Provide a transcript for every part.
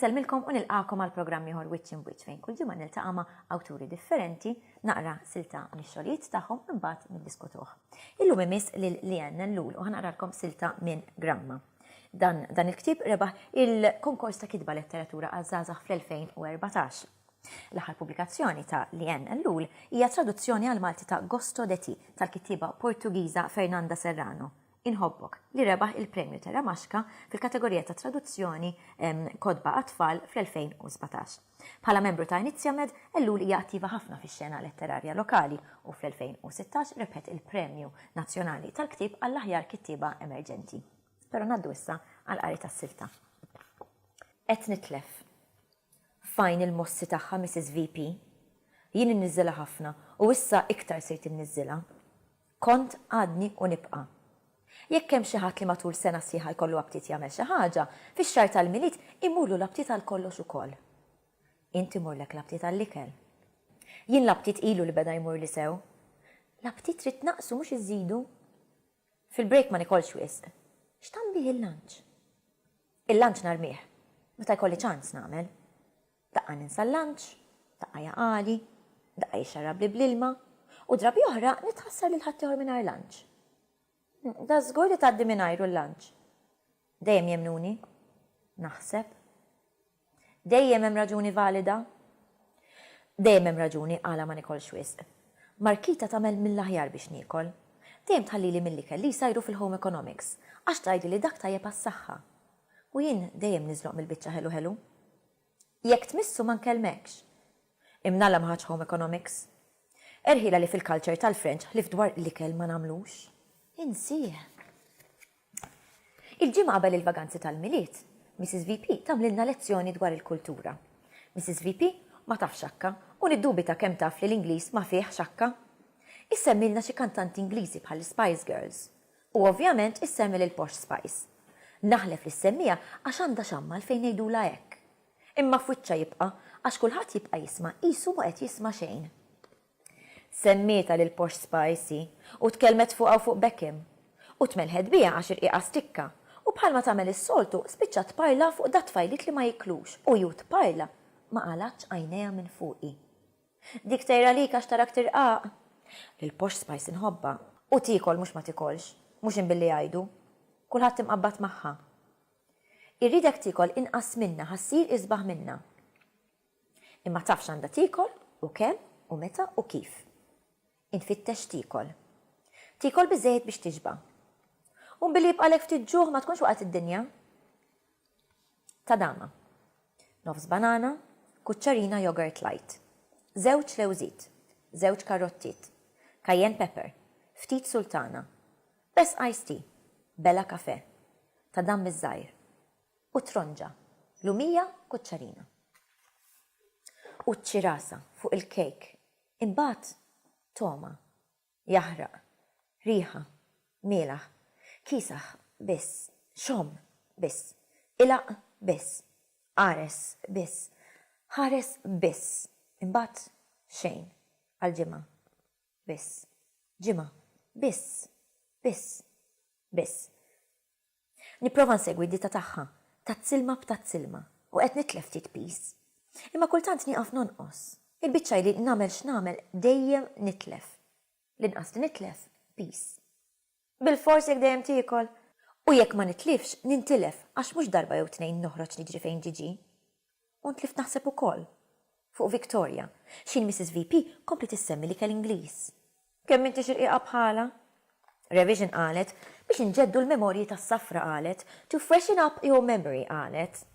Insellmilkom u nilqakom għal programm ieħor Wiċċ Imwiċċ fejn kull ġimgħa niltaqa' ma' awturi differenti naqra silta mix-xogħlijiet tagħhom imbagħad niddiskutuh. Illum imiss lil Leanne Lul u ħanaqralkom silta minn Gramma. Dan dan il-ktieb rebaħ il-Konkors ta' Kitba Letteratura għaż-Żgħażagħ fl-2014. L-aħħar pubblikazzjoni ta' Leanne Ellul hija traduzzjoni għall-Malti ta' Gosto de ti tal-kittieba Portugiża Fernanda Serrano, Inħobbok, li rebaħ il-Premju Terra Maxka fil-kategorija ta' Traduzzjoni Kotba għat-Tfal fl-2017. Bħala membru ta' Iniziamed, Ellul hija attiva ħafna fix-xena letterarja lokali u fl-2016 rebħet il-Premju Nazzjonali tal-Ktieb għall-aħjar kittieba emerġenti. Però ngħaddu issa għall-qari tas-silta. Qed nitlef. F'għajn il-mossi tagħha Missis VP. Jien inniżżilha ħafna u issa iktar sejt inniżżilha. Kont, għadni u nibqa'. Jekk hemm xi ħadd li matul sena sħiħa jkollu aptit jagħmel xi ħaġa, fix-xahar tal-Milied imurlu l-aptit għal kollox ukoll. Int imurlek l-aptit għall-ikel. Jien l-aptit ilu li beda jmurli sew. L-aptit trid tnaqqsu mhux iżżidu. Fil-break ma nikolx wisq. X'tagħmlih il-lunch? Il-lunch narmih. Meta jkolli ċans nagħmel. Daqqa ninsa l-lunch, daqqa jaqagħli, daqqa jixxarrabli bl-ilma, u drabi oħra nitħassar lil ħaddieħor mingħajr lunch. Da żgur li tgħaddi mingħajru l-lunch. Dejjem jemmnuni? Naħseb. Dejjem hemm raġuni valida? Dejjem hemm raġuni għala ma nikolx wisq. Markita tagħmel mill-aħjar biex niekol. Dejjem tħallili mill-ikel li jsajru fil-home economics, għax tgħidli li dak tajjeb għas-saħħa. U jien dejjem niżloq mill-biċċa ħelu ħelu. Jekk tmissu ma nkellmekx. Imnalla ma ħadx Home Economics. Erħiela li fil-culture tal-French ħlief dwar l-ikel ma nagħmlux. Insieh. Il-ġimgħa qabel il-vaganzi tal-Milied, Mrs. VP tagħmlilna lezzjoni dwar il-kultura. Mrs. VP ma tafx Akka u niddubita kemm taf li l-Ingliż ma fih x'Akka. Issemmilna xi kantanti Ingliżi bħall-Spice Girls. U ovvjament issemmi lil Posh Spice. Naħlef li ssemmiha għax għandha x'għamma għalfejn ngħidulha hekk. Imma f'wiċċha jibqa' għax kulħadd jibqa' jisma' qisu ma qed jisma' xejn. Semmietha lil Posh Spice hi u tkellmet fuqha u fuq Beckham. U tmelħet biha għax irqiqha stikka u bħalma tagħmel is-soltu spiċċat tparla fuq dat-tfajliet li ma jiklux u ju tparla ma qalgħatx għajnejha minn fuqi. Dik tgħirha lik għax tarak tirqaq. Lill-posh spice inħobbha. U tiekol mhux ma tikolx. Mhux in billi jgħidu. Kulħadd imqabbad magħha. Irridek tiekol inqas minnha ħa ssir isbaħ minnha. Imma taf x'għandha tiekol u kemm u meta u kif. Int tfittex tiekol. Tiekol biżżejjed biex tixba'. U billi jibqagħlek ftit ġuħ ma tkunx waqgħet id-dinja. Tadama. Nofs banana, kuċċarina yogurt light. Żewġ lewżiet. Żewġ karottiet. Cayenne pepper. Ftit sultana. Pezz iced tea. Bela kafè. Tadam iż-żgħir. U tronġa. Lumija, kuċċarina. U ċ-ċirasa fuq il-cake. Imbagħad Toma, jaħraq, riħa, mielaħ, kiesaħ biss, xom biss, ilgħaq biss, qares biss, ħares biss, imbagħad xejn għal ġimgħa biss, ġimgħa biss, biss, biss. Nipprova nsegwi d-ditta tagħha, tazzilma b'tazzilma, u qed nitlef ftit piż. Imma kultant nieqaf nonqos. Il-biċċa hi li nagħmel x'nagħmel dejjem nitlef. L-inqas li nitlef, piż. Bilfors jekk dejjem tiekol! U jekk ma nitlifx, nintilef għax mhux darba jew tnejn noħroġ niġri fejn ġiġi. U tlift naħseb ukoll fuq Victoria. X'inhi Missis VP kompliet issemmi l-ikel Ingliż. Kemm intix irqiqa bħalha? Revision qalet, Biex inġeddu l-memorji tas-safra qalet, To freshen up your memory qalet.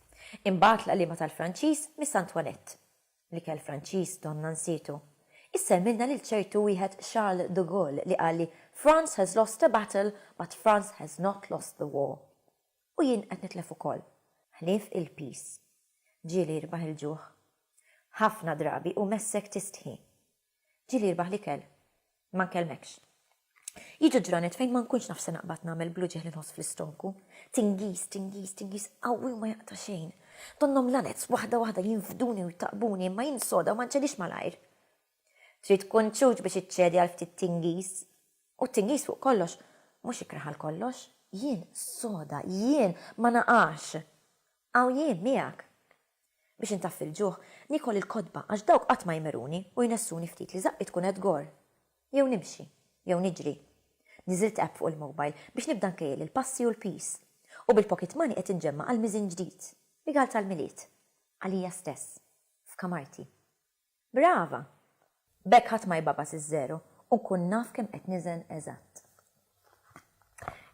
Imbagħad l-għalliema tal-Franċiż Miss Antoinette. L-ikel Franċiż donna nsietu. Issemmilna lil ċertu wieħed Charles de Gaulle li qalli France has lost a battle but France has not lost the war. U jien qed nitlef ukoll. Ħlief il-piż. Ġieli jirbaħ il-ġuħ. Ħafna drabi hu messek tistħi. Ġieli jirbaħ l-ikel. Ma nkellmekx. Jiġu ġranet fejn ma nkunx naf se naqbad nagħmel bl-uġigħ li nħoss fl-istonku. Tingiż, tingiż, tingiż qawwi u ma jaqta' xejn. Donnhom l-għanez waħda waħda jinfduni u jtaqqbuni imma jien soda u ma nċedix malajr. Trid tkun ċuċ biex iċċedi għal ftit tingiż. U t-tingiż fuq kollox, mhux ikrah għal kollox. Jien soda, jien ma naqax. Hawn jien miegħek. Biex intaffi l-ġuħ, niekol il-kotba għax dawk qatt ma jmiruni u jnessuni ftit li żaqqi tkun qed tgorr. Jew nimxi. Jew niġri. Niżilt app fuq il-mobile biex nibda nkejjel il-passi u l-piż. U bil-pocket money qed inġemma' għal miżin ġdid. Rigal tal-Milied. Għalija stess. F'kamarti. Brava! B'hekk ħadd ma jbagħbas iż-żero u nkun naf kemm qed niżen eżatt.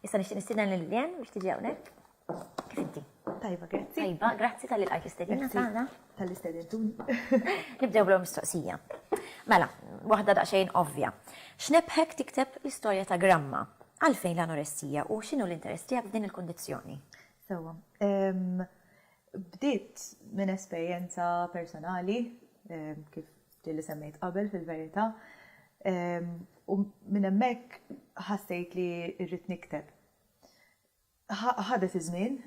Issa nixtieq nistieden lil Lien biex tiġi hawnhekk. Kif inti? Tajba, grazzi. Tajba, grazzi tal-li lqajt l-istedina tagħna. Tal-li stedintuni. Nibdew bl mistoqsija. Mela, waħda daqsxejn ovvja. X'nebħek tikteb l-istorja ta' Gramma? Għalfejn l-anoressija u x'inhu l-interess tiegħek f'din il-kundizzjoni? Sewwa. Bdiet minn esperjenza personali, kif dik li semmejt qabel fil-verità, u minn hemmhekk ħassejt li rrid nikteb. Ħadet iż-żmien,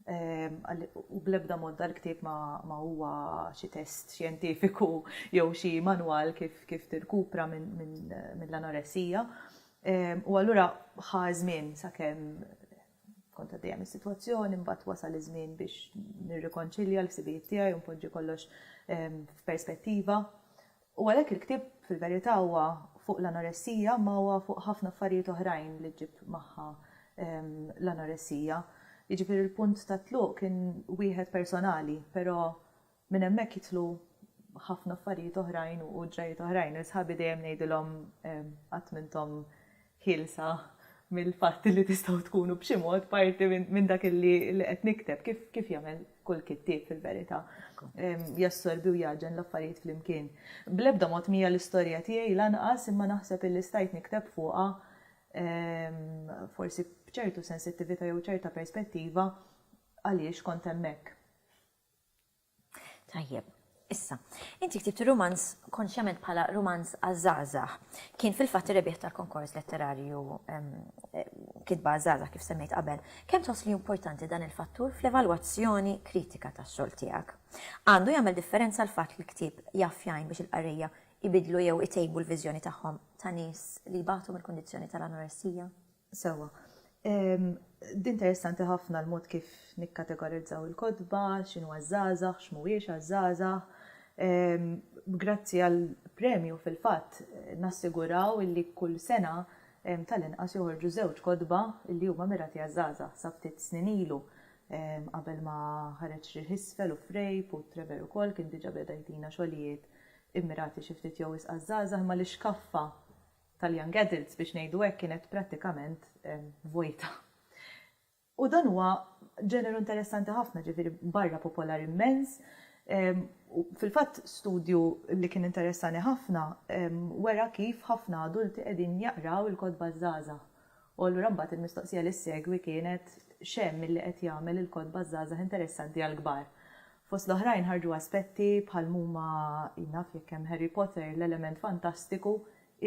u bl-ebda mod dal-ktieb ma huwa xi test xjentifiku jew xi manwal kif tirkupra mill-anoressija, u allura ħa ż-żmien sakemm Kont għaddejja mis-sitwazzjoni, imbagħad wasal iż-żmien biex nirrikonċilja l-ħsibijiet tiegħi u npoġġi kollox f'perspettiva. U għalhekk il-ktieb fil-verità huwa fuq l-anoressija imma huwa fuq ħafna affarijiet oħrajn li ġġib magħha l-anoressija. Jiġifieri l-punt tat-tluq kien wieħed personali, però Minn hemmhekk jidħlu ħafna affarijiet oħrajn u ġrajjiet oħrajn. Lil sħabi dejjem ngħidilhom qatt m'intom ħielsa mill-fatt li tistgħu tkunu b'xi mod parti minn dak li qed nikteb, kif jagħmel kull kittieb fil-verità. Jassorbi u jgħaġġen l-affarijiet flimkien. Bl-ebda mod m'hija l-istorja tiegħi lanqas imma naħseb illi stajt nikteb fuqha forsi b'ċertu sensittività jew ċerta perspettiva għaliex kont hemmhekk. Tajjeb. Issa, inti ktibt ir-rumanz konxjament bħala rumanz għaż-żgħażagħ. Kien fil-fatt ir-rebbieħ tal-konkors letterarju Kitba għaż-żgħażagħ kif semmejt qabel. Kemm tħoss li hu importanti dan il-fattur fl-evalwazzjoni kritika tax-xogħol tiegħek? Għandu jagħmel differenza l-fatt li l-ktieb jaf jgħin biex il-qarrejja jbiddlu jew itejbu l-viżjoni tagħhom ta' nies li jbatu mill-kundizzjoni tal-anoressija? Sewwa. Dinteressanti ħafna l-mod kif nikkategorizzaw il-kotba, x'inhu għaż-żgħażagħ, x'mhuwiex għaż-żgħażagħ. Grazzi għall-premju fil-fatt nassiguraw illi kull sena tal-inqas joħorġu żewġ kotba illi huma mirati għaż-żgħażagħ. Sa ftit snin ilu qabel ma ħareġ Riħ Isfel u Frejp u Trevor ukoll kien diġa' beda jtina xogħlijiet immirati xi ftit jew wisq għaż-żgħażagħ imma l-ixkaffa tal-young adults biex ngħidu hekk kienet prattikament vojta. U dan huwa ġeneru interessanti ħafna, ġifieri barra popolari immens, u fil-fatt studju li kien interessani ħafna wera kif ħafna adulti qegħdin jaqraw il-kotba ż-żgħażagħ. U allura mbagħad il-mistoqsija li ssegwi kienet x'hemm milli qed jagħmel il-kotba ż-żgħażagħ interessanti għall-kbar. Fost l-oħrajn ħarġu aspetti bħal mhuma jien naf jekk hemm Harry Potter l-element fantastiku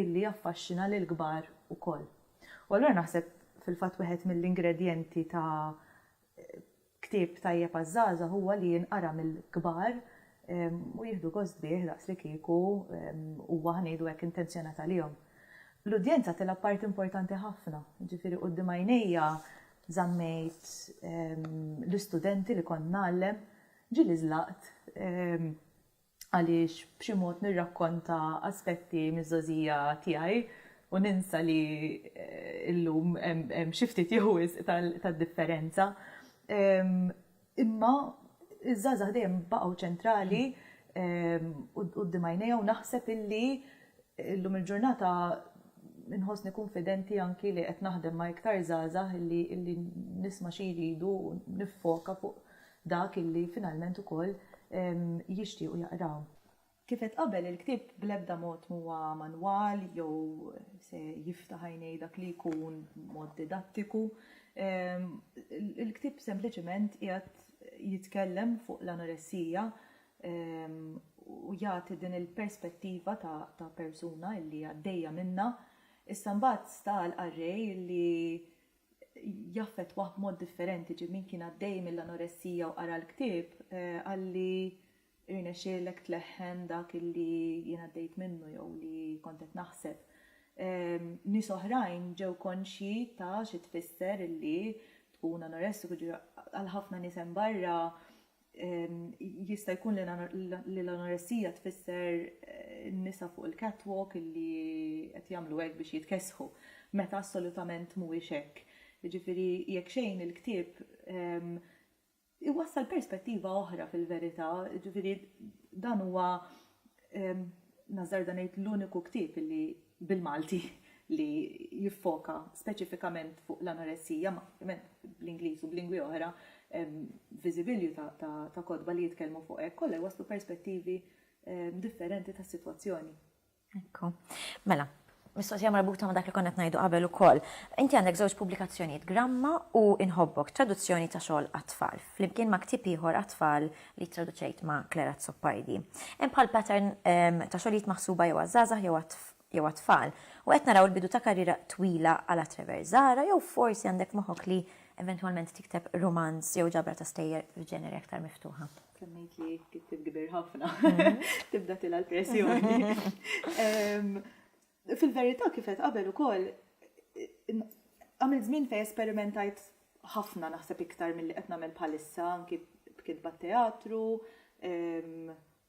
illi jaffaxxina lill-kbar ukoll. U allura naħseb fil-fatt wieħed mill-ingredjenti ta' Ktieb tajjeb għaż-żgħażagħ huwa li jinqara mill-kbar u jieħdu gost bih daqs li kieku huwa, ħa ngħidu hekk, intenzjonat għalihom. L-udjenza tilgħab parti importanti ħafna, jiġifieri quddiem għajnejja żammejt l-istudenti li kont ngħallem, ġieli żlaqt, għaliex b'xi mod nirrakkonta aspetti miż-żgħożija tiegħi u ninsa li llum hemm xi ftit jew wisq ta' differenza. Imma ż-żgħażagħ dejjem baqgħu ċentrali quddiem għajnejja u naħseb illi llum il-ġurnata nħossni kunfidenti anki li qed naħdem ma' iktar żgħażagħ illi nisma' xi jridu u niffoka fuq dak illi finalment ukoll jixtiequ jaqraw. Kif għedt qabel, il-ktieb bl-ebda mod m'huwa manwal jew se jiftaħ għajnej dak li jkun b'mod didattiku. Il-ktieb sempliċement qiegħed jitkellem fuq l-anoressija u jagħti din il-perspettiva ta' persuna illi għaddejja minnha. Issa mbagħad sta għall-qarrej illi jaffettwah b'mod differenti. Ġieli min kien għaddej mill-anoressija u qara l-ktieb qalli rnexxielek tleħħen dak li jien għaddejt minnu jew li kont qed naħseb. Nies oħrajn ġew konxji ta' xi tfisser li tkun anoressiku, għal ħafna nies hemm barra Jista' jkun li l-anoressija tfisser nisa fuq il-catwalk li qed jagħmlu hekk biex jitkessħu, meta assolutament mhuwiex hekk. Jiġifieri, jekk xejn il-ktieb iwassal perspettiva oħra fil-verità, jiġifieri dan huwa, nażżarda ngħid, l-uniku ktieb li bil-Malti li jiffoka speċifikament fuq l-anoressija, ma ovvjament bl-Ingliż u b'lingwi oħra hemm viżibilju ta' kotba li jitkellmu fuq hekk, kollha jwasslu perspettivi differenti tas-sitwazzjoni. Ekku. Mela, mistoqsija marbuta ma' dak li konna qed ngħidu qabel ukoll. Inti għandek żewġ pubblikazzjonijiet, Gramma u Inħobbok, traduzzjoni ta' xogħol għat-tfal, flimkien ma' ktieb ieħor għat-tfal li ttraduċejt ma' Claire Azzopardi. Hemm bħal pattern ta' xogħlijiet maħsuba jew għaż-żgħażagħ jew jew għat-tfal. U qed naraw il-bidu ta' karriera twila għala Trevor Zahra jew forsi għandek f'moħħok li eventwalment tikteb rumanz jew ġabra ta' stejjer f'ġeneri aktar miftuħa? Semmejt li kittib kbir ħafna, mhm. tibda tila l-pressjoni. Fil-verità kif għedt qabel ukoll, għamilt żmien fejn esperimentajt ħafna naħseb iktar milli qed nagħmel bħalissa anki b'kitba teatru,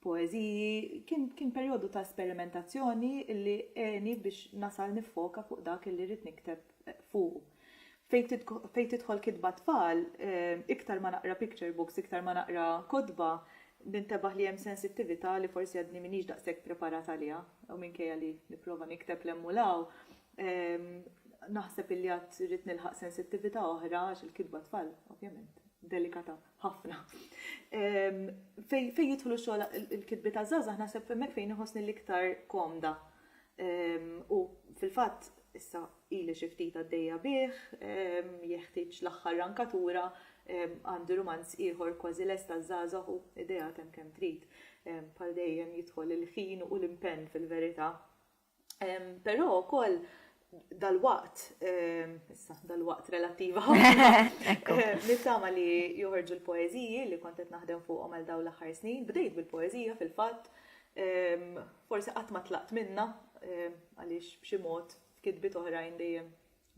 poeżiji, kien kien perjodu ta' esperimentazzjoni li għeni biex nasal niffoka fuq dak li rrid nikteb fuqu. Fejn tidħol kitba tfal, iktar ma naqra picture books, iktar ma naqra kotba, nintebaħ li hemm sensittività li forsi għadni m'iniex daqshekk preparat għaliha, u minkejja li nipprova nikteb 'l hemm u 'l hawn, naħseb illi għad irrid nilħaq sensittività oħra għax il-kitba tfal, ovvjament, delikata ħafna. Fejn jidħlu xogħol il-kitbiet għaż-żgħażagħ naħseb hemmhekk fejn inħossni l-iktar komda u, fil-fatt, issa Ili xi ftit għaddejja bih, jeħtieġ l-aħħar rankatura, għandi rumanz ieħor kważi lest għaż-żgħażagħ u ideat hemm kemm trid. Bħal dejjem jidħol il-ħin u l-impenn fil-verità. Però wkoll dalwaqt, issa dalwaqt relattiva ħafna, nittama li joħorġu l-poeżiji li kont qed naħdem fuqhom għal dawn l-aħħar snin. Bdejt bil-poeżija fil-fatt, forsi qatt ma tlaqt minnha għaliex b'xi mod f'kitbiet oħrajn dejjem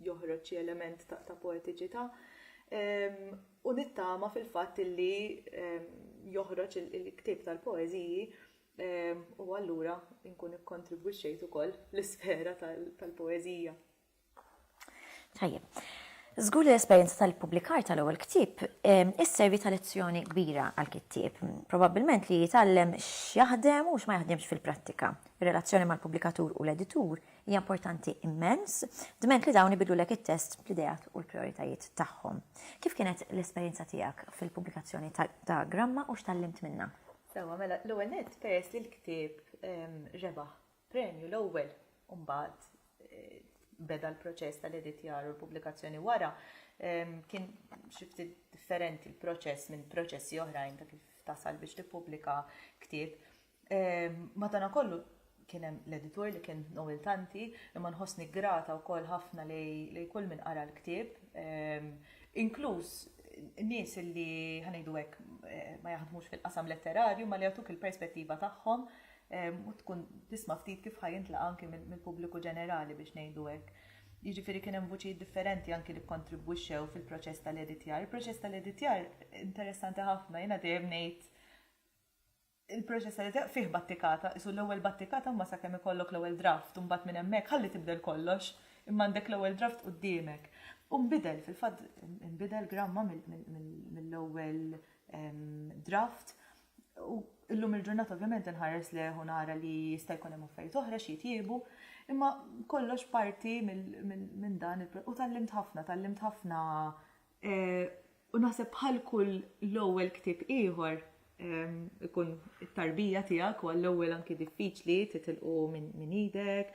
joħroġ xi element ta' poetiċità. Ehm, u nittama fil-fatt illi ehm, joħroġ il-ktieb tal-poeżiji ehm, u allura nkun ikkontribwixxejt ukoll l-isfera tal-poeżija. Tajjeb. Zgur li l-esperjenza tal-publikar tal-ewwel ktieb isservi ta' lezzjoni kbira għal kittieb. Probabbilment li jitgħallem x'jaħdem u x'ma jaħdemx fil-prattika. Ir-relazzjoni mal-pubblikatur u l-editur Hija importanti immens. Dment li dawn ibiddlulek it-test bl-ideat u l-prijoritajiet tagħhom. Kif kienet l-esperjenza tiegħek fil-pubblikazzjoni ta' Gramma u x'tgħallimt minnha? Sewwa, mela, l-ewwel nett peress li l-ktieb rebaħ premju l-ewwel u mbagħad beda l-proċess tal-editjar u l-pubblikazzjoni wara, kien xi ftit differenti l-proċess minn proċessi oħrajn ta' kif tasal biex tippubblika ktieb. Madanakollu kien hemm l-editur li kien Noel Tanti, imma nħossni grata wkoll ħafna li kull min qara l-ktieb, ehm, inkluż nies li ħanejdu hekk eh, ma jaħdmux fil-qasam letterarju ma li jagħtuk il-perspettiva tagħhom ehm, u tkun tisma' ftit kif ħajintla anki mill-pubbliku ġenerali biex ngħidu hekk. Jiġifieri kien hemm vuċijiet differenti anki li kontribwixxew fil-proċess tal-editjar. Il-proċess tal-editjar interessanti ħafna, jiena dejjem ngħid Il-proċess tal-idea fih battikata, qisu l-ewwel battikata imma sakemm ikollok l-ewwel draft u mbagħad minn hemmhekk ħalli tibdel kollox imma għandek l-ewwel draft quddiemek. U nbidel, fil-fatt inbidel gramma mill-ewwel draft u llum il-ġurnata ovvjament inħares lejh u nara li jista' jkun hemm affarijiet oħra xi jitjiebu imma kollox parti minn dan u tgħallimt ħafna, tgħallimt ħafna U naħseb bħal kull l-ewwel ktieb ieħor ikun it-tarbija tiegħek u għall-ewwel anki diffiċli titilqu minn idek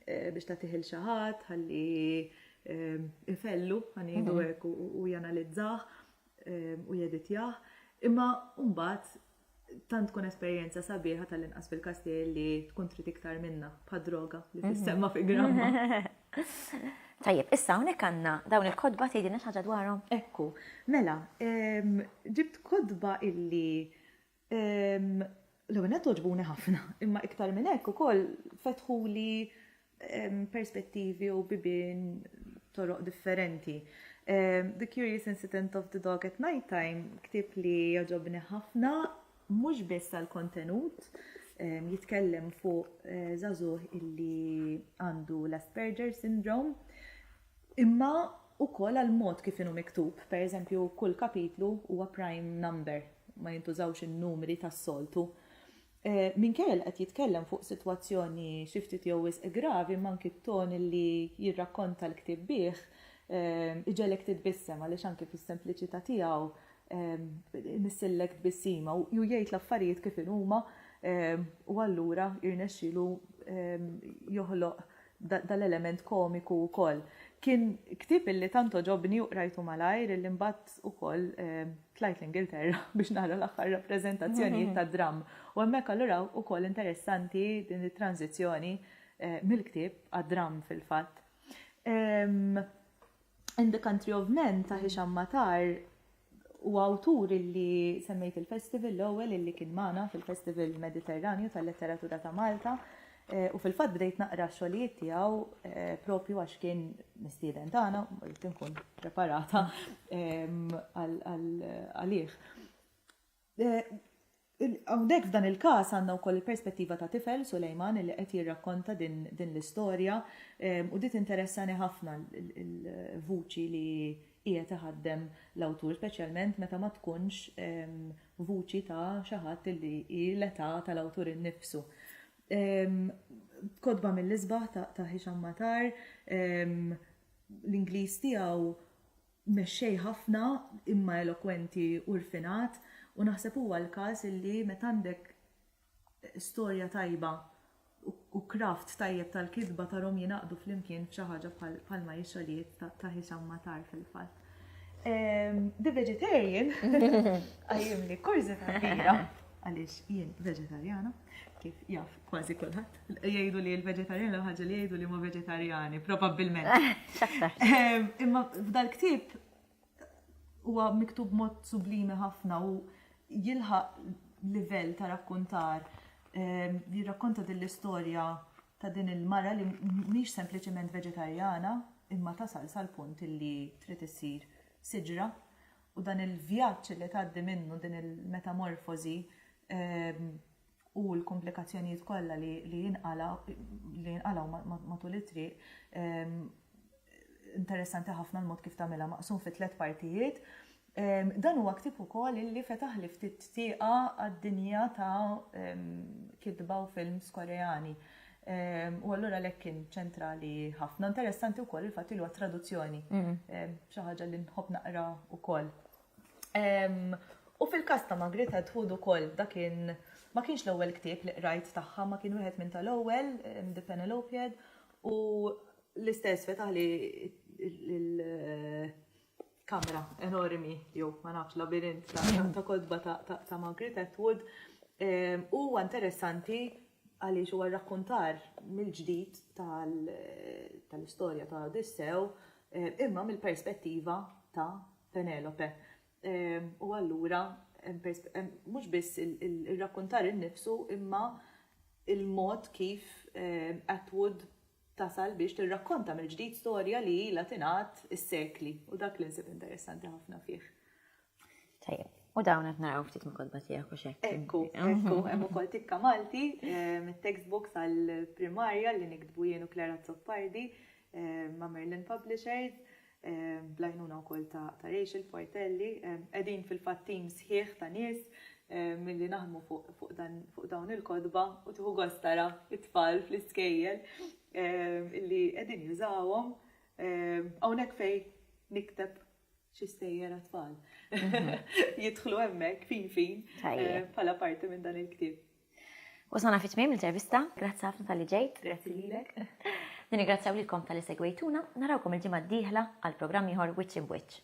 eh, biex tagħtih il xi ħadd ħalli ifellu ħanidu mhm. hekk u janalizzah u jeditjah. Imma mbagħad Tant tkun esperjenza sabiħa tal-inqas fil-każ tiegħi li tkun trid iktar minna bħad droga li mhm. tissemma fi gramma. Tajjeb, issa hawnhekk għandna dawn il-kodba tgħidilna xi ħaġa dwarhom. Ekku, mela, ġibt kodba illi l-għunet toġbuni ħafna, imma iktar minn hekk ukoll fetħu li perspettivi u bibien toroq differenti. Um, the Curious Incident of the Dog at Night Time, ktib li joġobni ħafna, mhux biss għal kontenut um, jitkellem fuq uh, eh, zazuh illi għandu l-Asperger syndrome, imma u koll għal mod kif inu miktub, per eżempju, kull kapitlu huwa prime number, ma jintużawx il-numri tas-soltu. Minkejja li qed jitkellem fuq sitwazzjoni xi ftit jew wisq gravi imma anki t-ton li jirrakkonta l-ktieb bih iġegħlek titbissem għaliex anki fis-sempliċità tiegħu imissillek tbissima u jgħid l-affarijiet kif inhuma u allura jirnexxielu joħloq dan l-element komiku wkoll. Kien ktieb illi tant għoġobni u qrajtu malajr illi mbagħad ukoll tlajt l-Ingilterra biex nara l-aħħar rappreżentazzjonijiet tad-dramm. U hemmhekk allura ukoll interessanti din it-tranżizzjoni mill-ktieb għad-dramm fil-fatt. In the Country of Men ta' Hisham Matar u awtur illi semmejt il-festival l-ewwel illi kien magħna fil-Festival Mediterranju tal-Letteratura ta' Malta eh, u fil-fatt bdejt naqra xogħlijiet tiegħu eh, propju għax kien mistieden tagħna, rrid inkun preparata ehm, għalih. Hawnhekk f'dan il-każ għandna wkoll il-perspettiva ta' tifel, Sulejman, li qed jirrakkonta din l-istorja u din tinteressani ħafna l-vuċi li qiegħed iħaddem l-awtur, speċjalment meta ma tkunx vuċi ta' xi ħadd li hi l-età tal-awtur innifsu. Kotba mill-isbaħ ta' Hisham Matar, l-Ingliż tiegħu Mexxej ħafna, imma elokwenti u rfinat, u naħseb huwa l-każ illi meta għandek storja tajba u craft tajjeb tal-kitba tarhom jingħaqdu flimkien f'xi ħaġa bħalma hi xogħlijiet ta' Hisham Matar fil-fatt. The Vegetarian qajjimli kurżità kbira għaliex jien veġetarjana kif jaf kważi kulħadd. Jgħidu li l-veġetarjani l ħaġa li jgħidu li huma veġetarjani, probabbilment. Ehm, imma f'dal ktieb huwa miktub mod sublimi ħafna u jilħaq livell ta' rakkontar ehm, jirrakkonta din l-istorja ta' din il-mara li mhix sempliċement veġetarjana imma tasal sal-punt li trid issir siġra u dan il-vjaġġ li tgħaddi minnu din il-metamorfożi ehm, u l-kumplikazzjonijiet kollha li jinqalgħu matul it-triq, interessanti ħafna l-mod kif tagħmilha, maqsum fi tliet partijiet. Dan huwa ktieb ukoll illi fetaħli ftit tieqa għad-dinja ta' kitba u films Koreani u allura għalhekk kien ċentrali ħafna. Interessanti wkoll il-fatt li huwa traduzzjoni, xi ħaġa li nħobb naqra wkoll. U fil-każ ta' Margaret Atwood ukoll da kien ma kienx l-ewwel ktieb li qrajt tagħha, ma kien wieħed minn tal-ewwel, The Penelopiad, u l-istess fetaħli l-kamra enormi, jew ma nafx labirint ta' kotba ta' Margaret Atwood. Huwa interessanti għaliex huwa rakkuntar mill-ġdid tal-istorja ta' Odissew imma mill-perspettiva ta' Penelope. U allura mhux biss ir-rakkuntar innifsu imma il-mod kif Atwood tasal biex tirrakkonta mill-ġdid storja li ilha tingħad is-sekli u dak li nsib interessanti ħafna fih. Tajjeb. U dawn qed naraw ftit minn kodba tiegħek u xek. Ekku, ekku, hemm ukoll tikka Malti mit-textbook tal-primarja li niktbu jien u Clara Zoppardi ma' Merlin Publishers. bl-għajnuna wkoll ta' Rachel Portelli. Qegħdin fil-fatt tim sħiħ ta' nies milli naħdmu fuq dawn il-kotba u tieħu gost tara t-tfal fl-iskejjel li qegħdin jużawhom. Hawnhekk fejn nikteb xi stejjer għat-tfal. Jidħlu hemmhekk fin fin bħala parti minn dan il-ktieb. Wasalna fi tmiem l-intervista, grazzi ħafna tal-li ġejt. Grazzi lilek. Nirringrazzjaw lilkom tal-li segwejtuna, narawkom il-ġimgħa d-dieħla għal programm ieħor Wiċċ Imb'Wiċċ.